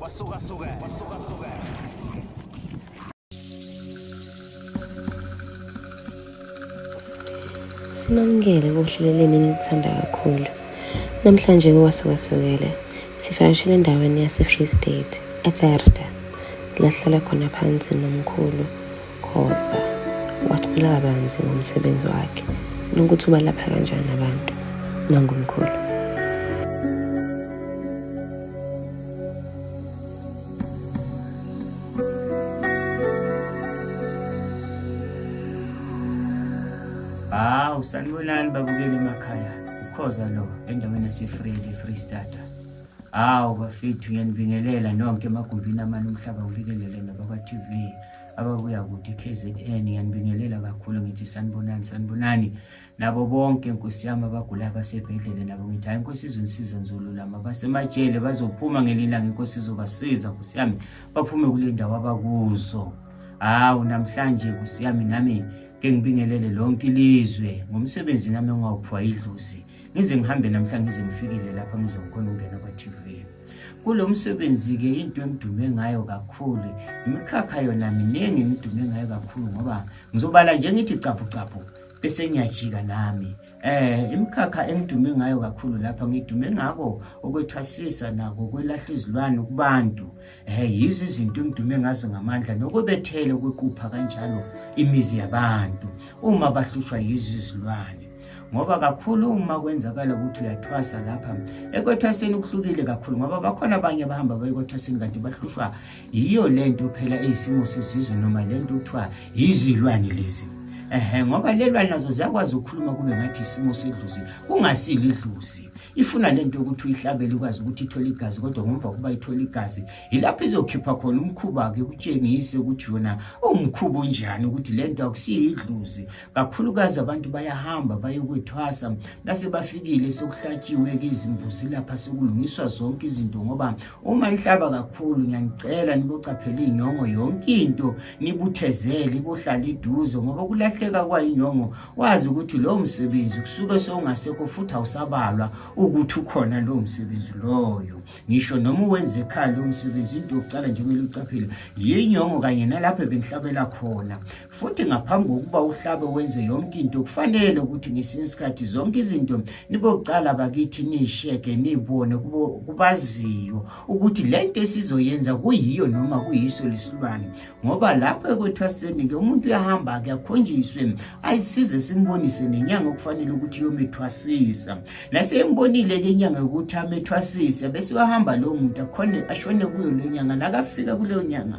Wasuka suka. Wasuka suka. Sinamukele kohleleleni enilithanda kakhulu. Namhlanje kuwasukasukele sivakashele endaweni yase-Free State, eVerda, la sihlala khona phansi nomkhulu Khoza wacula kabanzi ngomsebenzi wakhe nokuthi ubalapha kanjani abantu nangomkhulu. Hawu sanibonani babukeli emakhaya ukhoza lo endaweni yasefree free starter hawu bafethu ngiyanibingelela nonke emagumbini amane umhlaba ubikelele nabakwa-tv ababuya kude KZN ngiyanibingelela kakhulu ngithi sanibonani sanibonani nabo bonke nkosi yami abagula abasebhedlela nabo ngithi hayi nkosi izonisiza nzolulama basemajele bazophuma ngelilanga inkosi izobasiza nkosi yami baphume kule ndawo abakuzo hawu namhlanje nkosi yami nami ke ngibingelele lonke ilizwe ngomsebenzi nami ongawuphiwa idlozi ngize ngihambe namhlanje ngize ngifikile lapha ngize ngikhona ukungena kwa-tv kulo msebenzi-ke into engidume ngayo kakhulu imikhakha yona miningi engidume ngayo kakhulu ngoba ngizobala nje ngithi caphucaphu bese ngiyajika nami eh imikhakha engidume ngayo kakhulu lapha ngidume ngako ukwethwasisa nako kwelahla izilwane kubantu eh yizi izinto engidume ngazo ngamandla nokubethele ukuqupha kanjalo imizi yabantu uma bahlushwa yizi izilwane ngoba kakhulu uma kwenzakala ukuthi uyathwasa lapha ekwetaseni kuhlukile kakhulu ngoba bakhona abanye abahamba bayekwetaseni kanti bahlushwa yiyo le nto phela eyisimo sesizwe noma le nto kuthiwa yizilwane lezi ehe ngoba lelwane nazo ziyakwazi ukukhuluma kube ngathi isimo sedluzi kungasili idluzi ifuna le nto yokuthi uyihlabele ukwazi ukuthi ithole igazi kodwa ngomva kokuba ithole igazi yilapho izokhipha khona umkhuba-ke kutshengise ukuthi yona uwumkhuba unjani ukuthi le nto akusiyo idluzi kakhulukazi abantu bayahamba bayokwethwasa base bafikile sokuhlatshiwe-ke izimbuzi lapha sokulungiswa zonke izinto ngoba uma nihlaba kakhulu ngiyanicela nibocaphela iy'nyongo yonke into nibuthezele ibohlala iduze ngoba ukulahleka kwayinyongo wazi ukuthi lowo msebenzi kusuke sowungasekho futhi awusabalwa ukuthi ukhona lowo msebenzi loyo ngisho noma uwenze ekhaya lowo msebenzi into yokucala nje kumele ucaphele yinyongo kanye nalapho ebengihlabela khona futhi ngaphambi kokuba uhlabe wenze yonke into kufanele ukuthi ngesinye isikhathi zonke izinto nibokucala bakithi niyisheke niyibone kubaziyo ukuthi le nto esizoyenza kuyiyo noma kuyiso lesilwane ngoba lapho ekwethwaseni-ke umuntu uyahamba-ke akhonjiswe ayisize simbonise nenyanga okufanele ukuthi yomethwasisa nasembonile-ke inyanga yokuthi amethwasise bese uyahamba lowo muntu akhone ashone kuyo leyo nyanga nakafika kuleyo nyanga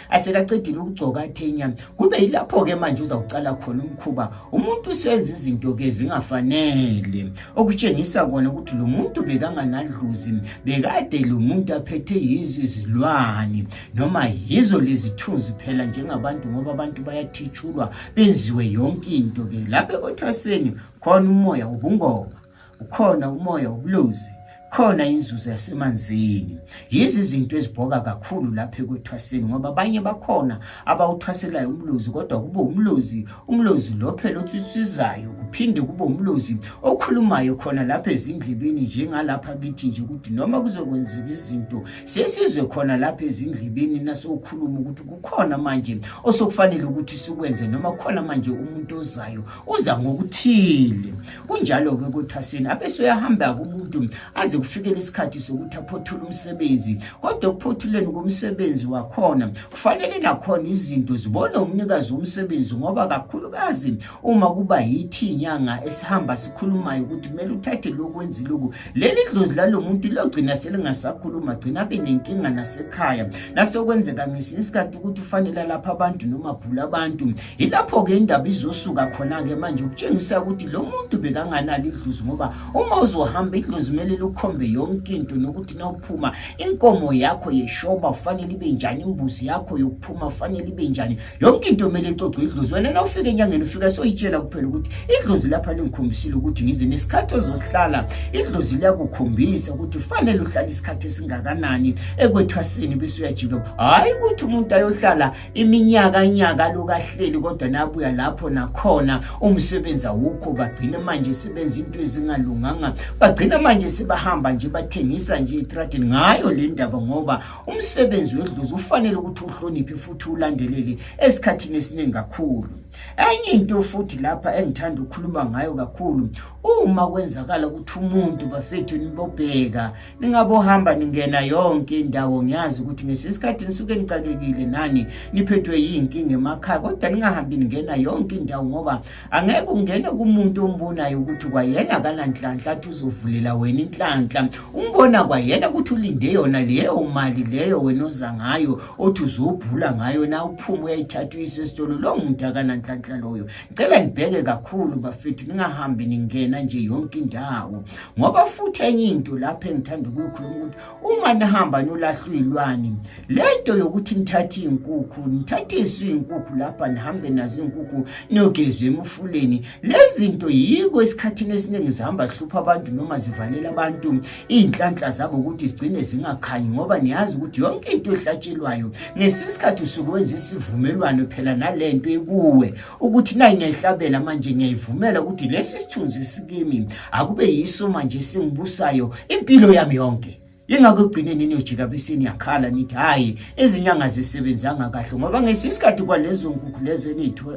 asekaqedile ukugcoka athenya kube yilapho-ke manje uzawucala khona umkhuba umuntu usenza izinto-ke zingafanele okutshengisa kona ukuthi lo muntu bekanganadluzi bekade lo muntu aphethe yizo izilwane noma yizo lezithunzi phela njengabantu ngoba abantu bayathitshulwa benziwe yonke into-ke lapho ekothwaseni khona umoya wobungoma ukhona umoya wobulozi khona inzuzo yasemanzini yizi izinto ezibhoka kakhulu lapha ekuthwaseni ngoba abanye bakhona abawuthwaselayo umlozi kodwa kube umlozi umlozi lo phela otswitsizayo kuphinde kube umlozi okhulumayo khona lapha ezindlebeni njengalapha kithi nje ukuthi noma kuzokwenzeka izinto sesizwe khona lapha ezindlebeni nasokhuluma ukuthi kukhona manje osokufanele ukuthi sikwenze noma kukhona manje umuntu ozayo uza ngokuthile kunjalo-ke kuthaseni abese uyahamba kumuntu aze kufikele isikhathi sokuthi aphothule umsebenzi kodwa ekuphothuleni komsebenzi wakhona kufanele nakhona izinto zibone umnikazi womsebenzi ngoba kakhulukazi uma kuba yithi inyanga esihamba sikhulumayo ukuthi kumele uthathe lokwenzi loku leli dlozi lalo muntu logcina selingasakhuluma gcina abe nenkinga nasekhaya nasekwenzeka ngesinye isikhathi ukuthi ufanele lapha abantu noma bhula abantu Yilapho-ke indaba izosuka khona-ke manje ukutshengisa ukuthi lo muntu bekanganalo idlozi ngoba uma uzohamba idlozi kumele lukhombe yonke into nokuthi nawuphuma inkomo yakho yeshoba kufanele ibe njani imbuzi yakho yokuphuma kufanele ibe njani yonke into kumele icocwe idlozi wena nawufika enyangeni ufika soyitshela kuphela ukuthi idlozi lapha lingikhombisile ukuthi ngize nesikhathi ozosihlala idlozi liyakukhombisa ukuthi kufanele uhlale isikhathi esingakanani ekwethwasini bese uyajika hhayi ukuthi umuntu ayohlala iminyaka nyaka lokahleli kodwa nabuya lapho nakhona umsebenzi awukho bagcina manje sebenza into ezingalunganga bagcina manje sebahamba nje bathengisa nje itradini ngayo le ndaba ngoba umsebenzi wedlozi ufanele ukuthi uhloniphe futhi ulandelele esikhathini esiningi kakhulu enye into futhi lapha engithanda ukukhuluma ngayo kakhulu uma kwenzakala ukuthi umuntu bafethu nibobheka ningabohamba ningena yonke indawo ngiyazi ukuthi ngesisikhathi nisuke nixakekile nani niphethwe yinkinga emakhaya kodwa ningahambi ningena yonke indawo ngoba angeke ungene kumuntu ombonayo ukuthi kwayena akananhlanhla athi uzovulela wena inhlanhla umbona kwayena ukuthi ulinde yona leyo mali leyo wena oza ngayo othi uzobhula ngayo na uphume uyayithatha uyise esitolo lowo muntu akananhlanhla loyo ngicela nibheke kakhulu bafethu ningahambi ningena nje yonke indawo ngoba futhi enye into lapho engithanda ukuyikhuluma ukuthi uma nihamba nolahlwa iy'lwane le nto yokuthi nithathe iy'nkukhu nithathe isu iy'nkukhu lapha nihambe nazo iy'nkukhu niyogezwe emufuleni le zinto yiko esikhathini esiningi zihamba zihlupha abantu noma zivalela abantu iy'nhlanhla zabo ukuthi zigcine zingakhanyi ngoba niyazi ukuthi yonke into ehlatshelwayo ngesinye isikhathi usuke wenza isivumelwano phela nale nto ekuwe ukuthi nayi ngiyayihlabela manje ngiyayivumela ukuthi lesi sithunzi sikimi akube yiso manje esingibusayo impilo yami yonke yingakho ekugcineni niyojika besini yakhala nithi hhayi izinyanga zisebenzanga kahle ngoba ngesinye isikhathi kwalezo nkukhu lezo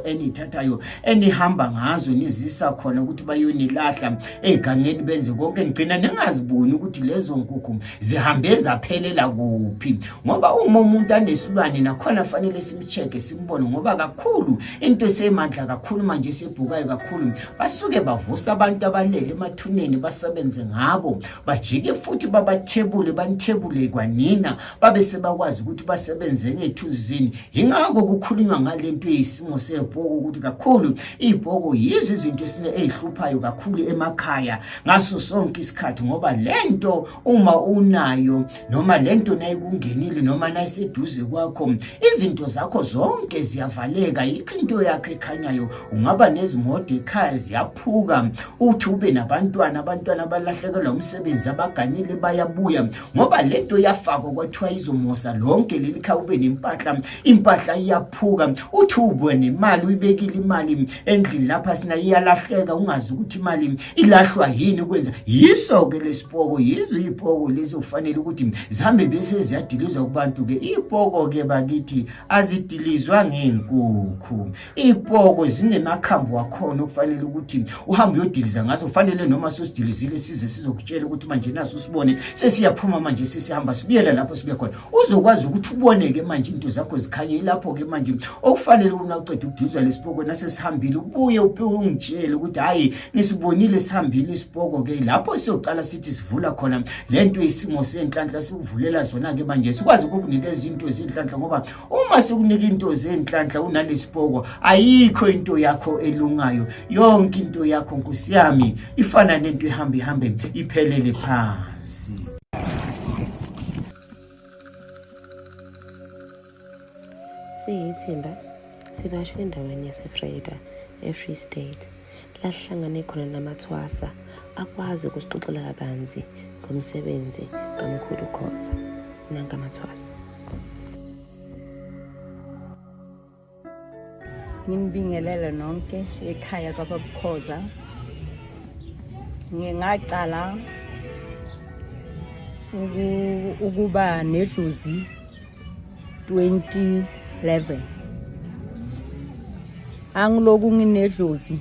eniyithathayo enihamba ngazo nizisa khona ukuthi bayonilahla ey'gangeni benze konke nigcina ningaziboni ukuthi lezo nkukhu zihambe zaphelela kuphi ngoba uma umuntu anesilwane nakhona fanele check simbone ngoba kakhulu into esemandla kakhulu manje esibhukayo kakhulu basuke bavusa abantu abalele emathuneni basebenze ngabo bajike futhi babathebule banithebule kwanina babe sebakwazi ukuthi basebenze ngethunzini yingakho kukhulunywa ngale mpi isimo sebhoko ukuthi kakhulu ibhoko yizi izinto esine ezihluphayo kakhulu emakhaya ngaso sonke isikhathi ngoba lento uma unayo noma lento nayikungenile noma nayiseduze kwakho izinto zakho zonke ziyavaleka yikho into yakho ekhanyayo ungaba nezimoto ekhaya ziyaphuka uthi ube nabantwana abantwana balahlekelwa umsebenzi abaganile bayabuya ngoba lento yafakwa kwathiwa izomosa lonke leli khaya ube nempahla impahla iyaphuka uthi ubone imali uyibekile imali endlini lapha sina iyalahleka ungazi ukuthi imali ilahlwa yini kwenza yiso-ke lesipoko yizo iy'poko lezi okufanele ukuthi zihambe bese ziyadilizwa kubantu-ke iy'poko-ke bakithi azidilizwa ngey'nkukhu iy'poko zinemakhambi wakhona okufanele ukuthi uhambe uyodiliza ngazo kufanele noma sosidilizile size sizokutshela ukuthi manje naso usibone sesiyaphuma manje sesihamba sibuyela lapho sibuye khona uzokwazi ukuthi uboneke manje into zakho zikhanye ilapho-ke manje okufanele una uceda ukudizwa lesipoko nasesihambile ubuye ungitshele ukuthi hhayi nisibonile sihambile isipoko-ke lapho siyocala sithi sivula khona le nto isimo senhlanhla sikuvulela zona-ke manje sikwazi ukukunika izinto zenhlanhla ngoba uma sikunika into zenhlanhla unalesipoko ayikho into yakho elungayo yonke into yakho nkosi yami ifana nento ehamba ihambe iphelele phansi Siyithimba sibasho endaweni yaseFreda eFree State lasihlangane khona namathwasa akwazi ukusixoxela kabanzi ngomsebenzi kaMkhulu Khoza nankamathwasa. nginibingelele nonke ekhaya kwababukhoza ngingacala ukuba nedlozi 2011 angiloku nginedlozi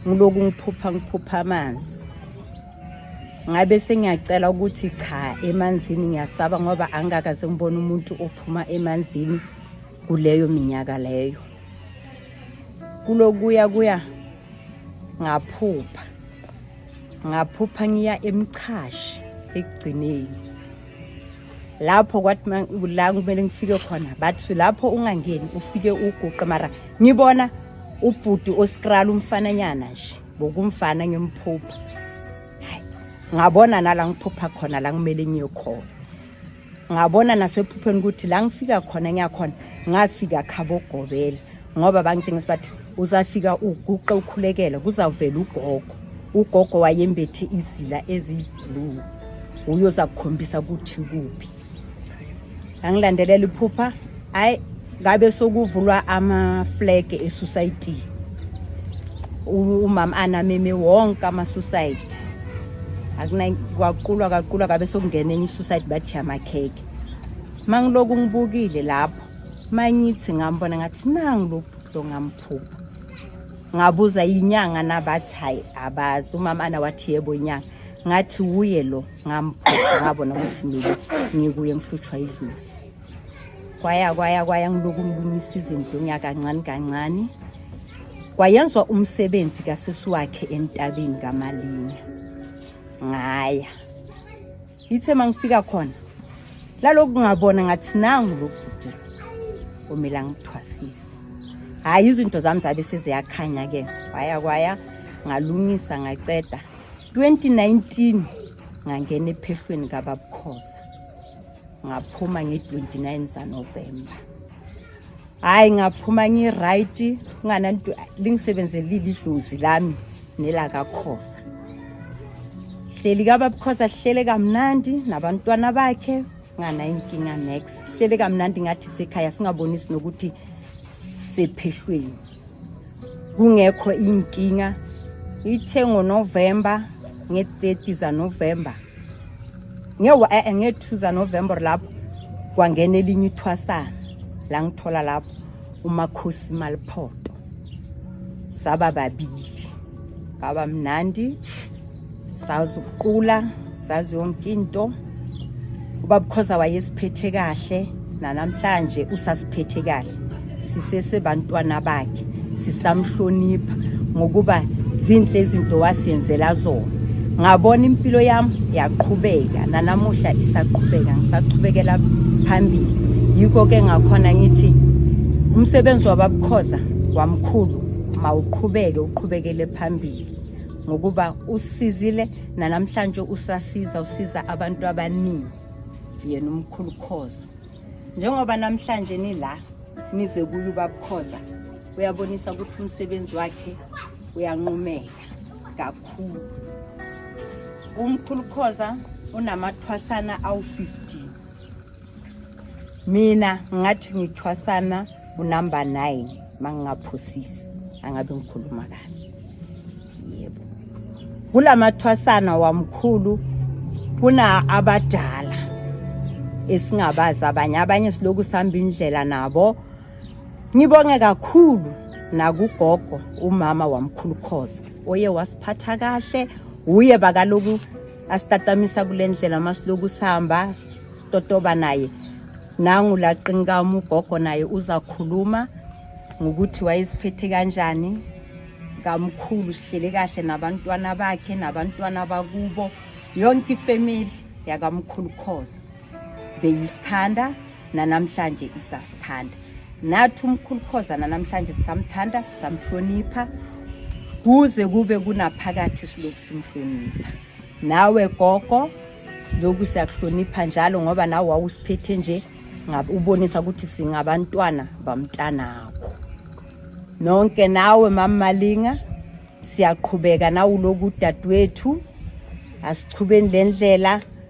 ngiloku ngiphupha ngiphupha amanzi ngabe sengiyacela ukuthi cha emanzini ngiyasaba ngoba angikakaze ngibone umuntu ophuma emanzini kuleyo minyaka leyo kulokuya kuya ngaphupha ngaphupha ngiya emchashi ekugcineni lapho kwathi la kumele ngifike khona bathi lapho ungangeni ufike uguqe mara ngibona ubhuti oskrala umfananyana nje bokumfana ngimphupha ngabona nala ngiphupha khona la kumele ngiye khona ngabona nasephupheni ukuthi la ngifika khona ngiyakhona ngafika khabo gobela ngoba bangitshengisa bathi uzafika uguqe ukhulekela kuzawuvela ugogo ugogo wayembethe izila eziyiblue uyoza kukhombisa ukuthi kuphi angilandelela iphupha hayi ngabe sokuvulwa ama-flag esusayitii umama anameme wonke ama-suicide kwaqukulwa kaqukulwa kabe sokungena enye i-suicide bathi amakheke ma ngiloku ngibukile lapho manyithi ngambona ngathi nangilobudo ngamphupha ngabuza inyanga nabathi hayi abazi umama ana wathi yebo inyanga ngathi wuye lo ngamphupha ngabona ukuthi mina ngikuye ngihlutshwa idluzi kwaya kwaya kwaya ngiloku ngilungisa izinto ngiyakancane kancane kwayenzwa umsebenzi kasisi wakhe entabeni kamalinga ngaya ithe mangifika khona laloku ngabona ngathi nangu lokudila omela ngithwasise hayi izinto zami zabe seziyakhanya ke kwaya kwaya ngalungisa ngaceda 2019 ngangena ephehlweni kababukhoza ngaphuma nge-29 zanovemba hhayi ngaphuma ngi-right kungananto lingisebenzelile idlozi lami nelakakhosa hleli kababukhosa sihlele kamnandi nabantwana bakhe nganayo inkinga nex sihlele kamnandi ngathi sekhaya singabonisi nokuthi sephehlweni kungekho inkinga ithe ngonovemba nge-30 zanovemba eh, nge-2 zanovember lapho kwangena elinye ithwasana la ngithola lapho umakhosi maliphoto saba babili ngaba mnandi sazi ukuqula sazi yonke into ubabukhoza wayesiphethe kahle nanamhlanje usasiphethe kahle sisesebantwana bakhe sisamhlonipha ngokuba zinhle izinto wasiyenzela zona ngabona impilo yami yaqhubeka nanamuhla isaqhubeka ngisaqhubekela phambili yikho ke ngakhona ngithi umsebenzi wababukhoza wamkhulu mawuqhubeke uqhubekele phambili ngokuba usizile nanamhlanje usasiza usiza abantu abaningi yena umkhulu khoza njengoba namhlanje nila nize kuyo ubabukhoza uyabonisa ukuthi umsebenzi wakhe uyanqumeka kakhulu umkhulu khoza unamathwasana awu-15 mina ngathi ngithwasana unumber 9 mangingaphosisi angabe ngikhuluma kahle yebo kulamathwasana wamkhulu kuna abadala esingabazi abanye abanye siloku sihamba indlela nabo ngibonge kakhulu nakugogo umama wamkhulu khoza oye wasiphatha kahle uye bakaloku asitatamisa kule ndlela uma siloku sihamba sitotoba naye nangu laqinkamu ugogo naye uzakhuluma ngokuthi wayeziphethe kanjani kamkhulu sihlele kahle nabantwana bakhe nabantwana bakubo yonke ifamily yakamkhulu khoza beyisithanda nanamhlanje isasithanda nathi umkhulu khoza nanamhlanje sisamthanda sisamhlonipha kuze kube kunaphakathi siloku simhlonipha nawe gogo siloku siyakuhlonipha njalo ngoba nawe wawusiphethe nje ubonisa ukuthi singabantwana bamntanakho nonke nawe mammalinga siyaqhubeka nawuloku udadewethu asichubeni le ndlela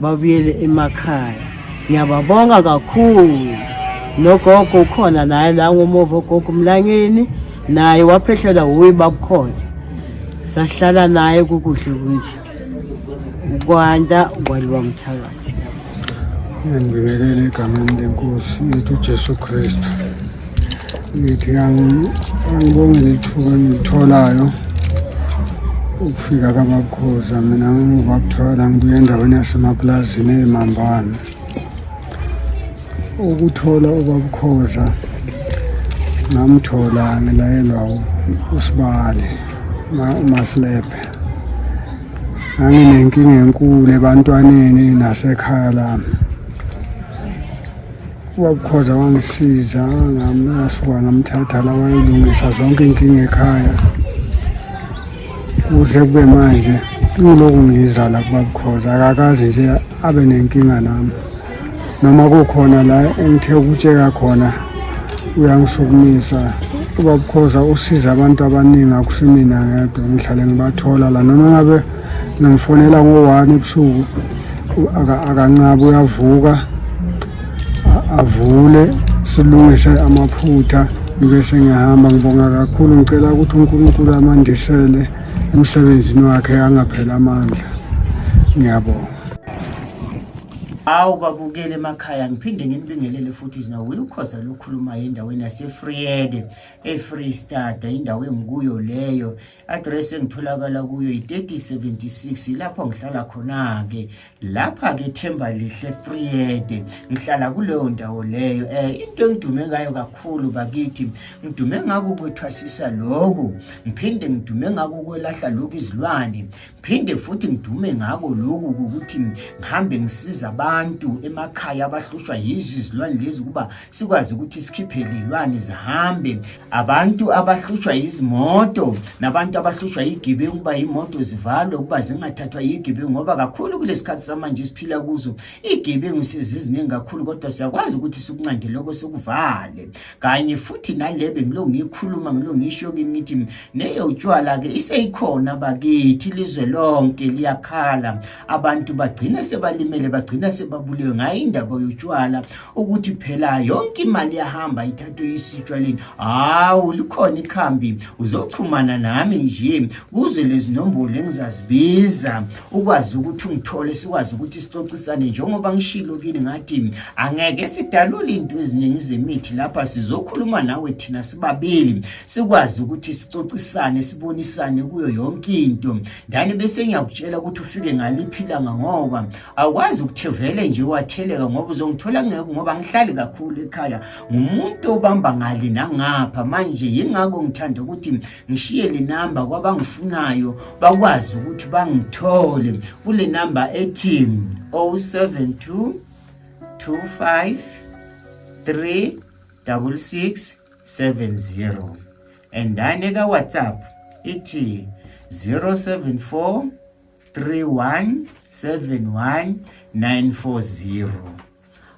babuyele emakhaya ngiyababonga kakhulu nogogo ukhona naye la ngomuva ogogo umlangeni naye waphehlelwa wuyi babukhoza sahlala naye kukuhle kunje ukwanda kwaliwa mthakathi ngibingelele egameni lenkosi yethu ujesu kristu ngithi angibonge lithuba engilitholayo ukufika kababukhoza mina ngimuva kuthola ngibuye endaweni yasemapulazini eyimambane ukuthola ubabukhoza ngamthola ngilayelwa usibali umasilebhe nganginenkinga enkulu ebantwaneni nasekhaya lami Wakukhoza wangisiza ngasuka ngamthatha la wayelungisa zonke inkinga ekhaya kuze kube manje ngiloku ngiza la kubabukhoza akakazi nje abe nenkinga nami noma kukhona la engithe ukutsheka khona uyangisukumisa ubabukhoza usiza abantu abaningi akusimina ngedwa ngihlale ngibathola la noma ngabe ngamfonela ngo-one ebusuku akanqabi uyavuka avule silungise amaphutha ngibe sengihamba ngibonga kakhulu ngicela ukuthi unkulunkulu amandisele emsebenzini wakhe angaphela amandla ngiyabonga awu babukele emakhaya ngiphinde nginibingelele futhi nawo uyukhoza lokhulumayo endaweni yasefriyede efree stata indawo engikuyo leyo address engitholakala kuyo yi-3076 ilapho ngihlala khona-ke lapha-ke themba lihle freede ngihlala kuleyo ndawo leyo um into engidume ngayo kakhulu bakithi ngidume ngako ukwethwasisa loku ngiphinde ngidume ngako ukwelahla loku izilwane phinde futhi ngidume ngako loku ukuthi ngihambe ngisiza abantu emakhaya abahlushwa yizo izilwane lezi ukuba sikwazi ukuthi sikhiphe lilwane zihambe abantu abahlushwa yizimoto nabantu abahlushwa yigibe ukuba imoto zivalwe ukuba zingathathwa yigibe ngoba kakhulu kulesikhathi samanje siphila kuzo igibe ngisiziziningi kakhulu kodwa siyakwazi ukuthi sikunqande lokho sokuvale kanye futhi nalebe ngilo ngikhuluma ngilo ngisho kini ngithi neyo utshwala ke iseyikhona bakithi lizwe lonke liyakhala abantu bagcine sebalimele bagcina sebabulewe ngayo indaba yotshwala ukuthi phela yonke imali yahamba ithathwe isitshwaleni hawu likhona ikhambi uzoxhumana nami nje kuze lezi nombolo engizazibiza ukwazi ukuthi ungithole sikwazi ukuthi sixoxisane njengoba ngishilo kini ngathi angeke sidalule into eziningi zemithi lapha sizokhuluma nawe thina sibabili sikwazi ukuthi sixoxisane sibonisane kuyo yonke into Dani bese ngiyakutshela ukuthi ufike ngaliphi ilanga ngoba awukwazi ukuthi vele nje watheleka ngoba uzongithola ngeke ngoba ngihlali kakhulu ekhaya ngumuntu obamba ngale nangapha manje yingakho ngithanda ukuthi ngishiye le namba kwabangifunayo bakwazi ukuthi bangithole kule namba ethi 072 25 3 66 70 endane ka WhatsApp ithi 074 3171940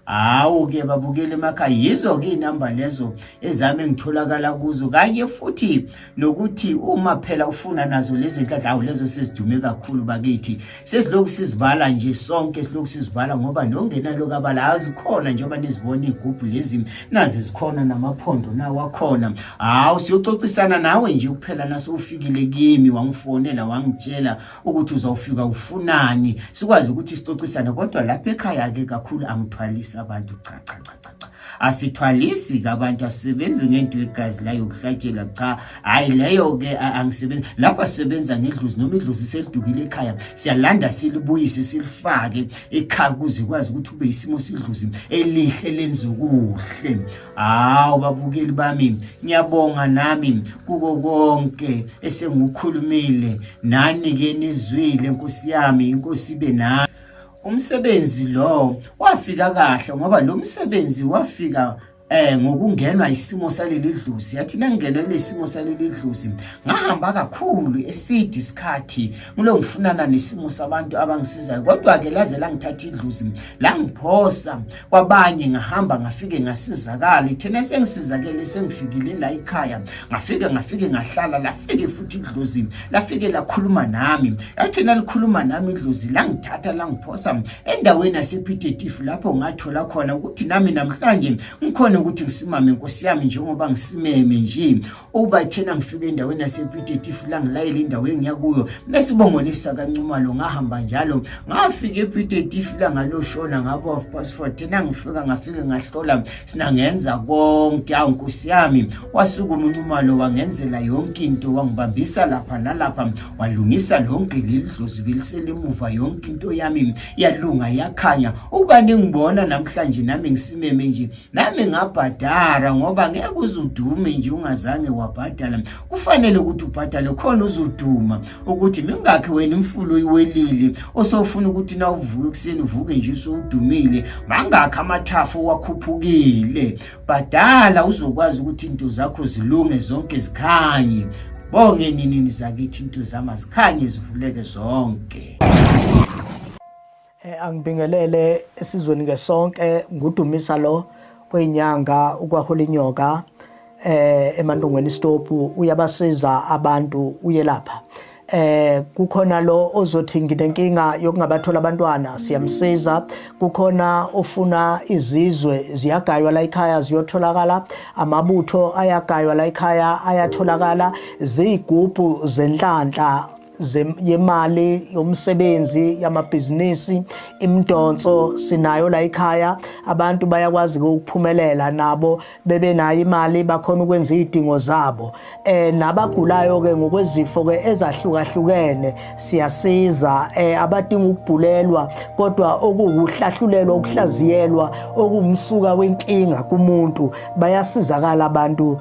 hawu ke babukele emakhaya yizo ke inamba lezo ezami engitholakala kuzo kanye futhi nokuthi uma phela ufuna nazo lezi nhlahla awu lezo sezidume kakhulu bakithi sesilokhu sizibala nje sonke silokhu sizibala ngoba nongenalo kabala azikhona njengoba nizibona igubhu lezi nazi zikhona namaphondo nawo akhona hawu siyoxoxisana nawe nje kuphela nasufikile kimi wangifonela wangitshela ukuthi uzawufika ufunani sikwazi ukuthi sixoxisane kodwa lapha ekhaya-ke kakhulu angithwalisi abantu cha cha cha cha asithwalisi kabantu asisebenzi ngento yegazi la yokuhlatshela cha hayi leyo ke angisebenzi lapho asisebenza ngedlozi noma idlozi selidukile ekhaya siyalanda silibuyise silifake ekhaya ukuze ikwazi ukuthi ube isimo sidlozi elihle lenza ukuhle hawu babukeli bami ngiyabonga nami kuko konke esengikukhulumile nani ke nizwile nkosi yami inkosi ibe nani Umsebenzi lo wafika kahle ngoba lo msebenzi wafika eh ngokungenwa isimo saleli dlusi yathi nangenwe lesimo saleli dlusi ngahamba kakhulu esidi isikhathi ngilo ngifunana nesimo sabantu abangisizayo kodwa ke laze langithatha idlusi langiphosa kwabanye ngahamba ngafike ngasizakala ithena sengisizakele sengifikile la ikhaya ngafike ngafike ngahlala lafike futhi idlozi lafike lakhuluma nami yathena likhuluma nami idlozi langithatha langiphosa endaweni yasephithetifu lapho ngathola khona ukuthi nami namhlanje ngikhona ukuthi ngisimame nkosi yami njengoba ngisimeme nje uba thina ngifike endaweni yasepitetifu la ngilayele indawo engiya kuyo mesibongolisa kancumalo ngahamba njalo ngafika epitetifu la ngaloshona ngabo of past four thina ngifika ngafike ngahlola sina ngenza konke awu nkosi yami wasukuma uncumalo wangenzela yonke into wangibambisa lapha nalapha walungisa lonke leli dlozi beliselemuva yonke into yami yalunga yakhanya uba ningibona namhlanje nami ngisimeme nje nami ngabhadara ngoba ngeke uzudume nje ungazange wabhadala kufanele ukuthi ubhadale khona uzoduma ukuthi mingakhi wena imfulo iwelile osofuna ukuthi na uvuke ekuseni uvuke nje usudumile mangakhi amathafa owakhuphukile bhadala uzokwazi ukuthi into zakho zilunge zonke zikhanye bonge ninini zakithi into zama zikhanye zivuleke zonke Eh, angibingelele esizweni ngesonke ngudumisa lo oyinyanga ukwahula inyoka eh emantungweni istopu uyabasiza abantu uyelapha eh kukhona lo ozothi nginenkinga yokungabathola abantwana siyamsiza kukhona ofuna izizwe ziyagaywa la ekhaya ziyotholakala amabutho ayagaywa la ekhaya ayatholakala ziyigubhu zenhlanhla yemali yomsebenzi yamabhizinisi imidonso sinayo la ekhaya abantu bayakwazi ukuphumelela nabo bebe nayo imali bakhona ukwenza izidingo zabo eh nabagulayo ke ngokwezifo ke ezahlukahlukene siyasiza eh abadinga ukubhulelwa kodwa okuwuhlahlulelwa ukuhlaziyelwa okumsuka wenkinga kumuntu bayasizakala abantu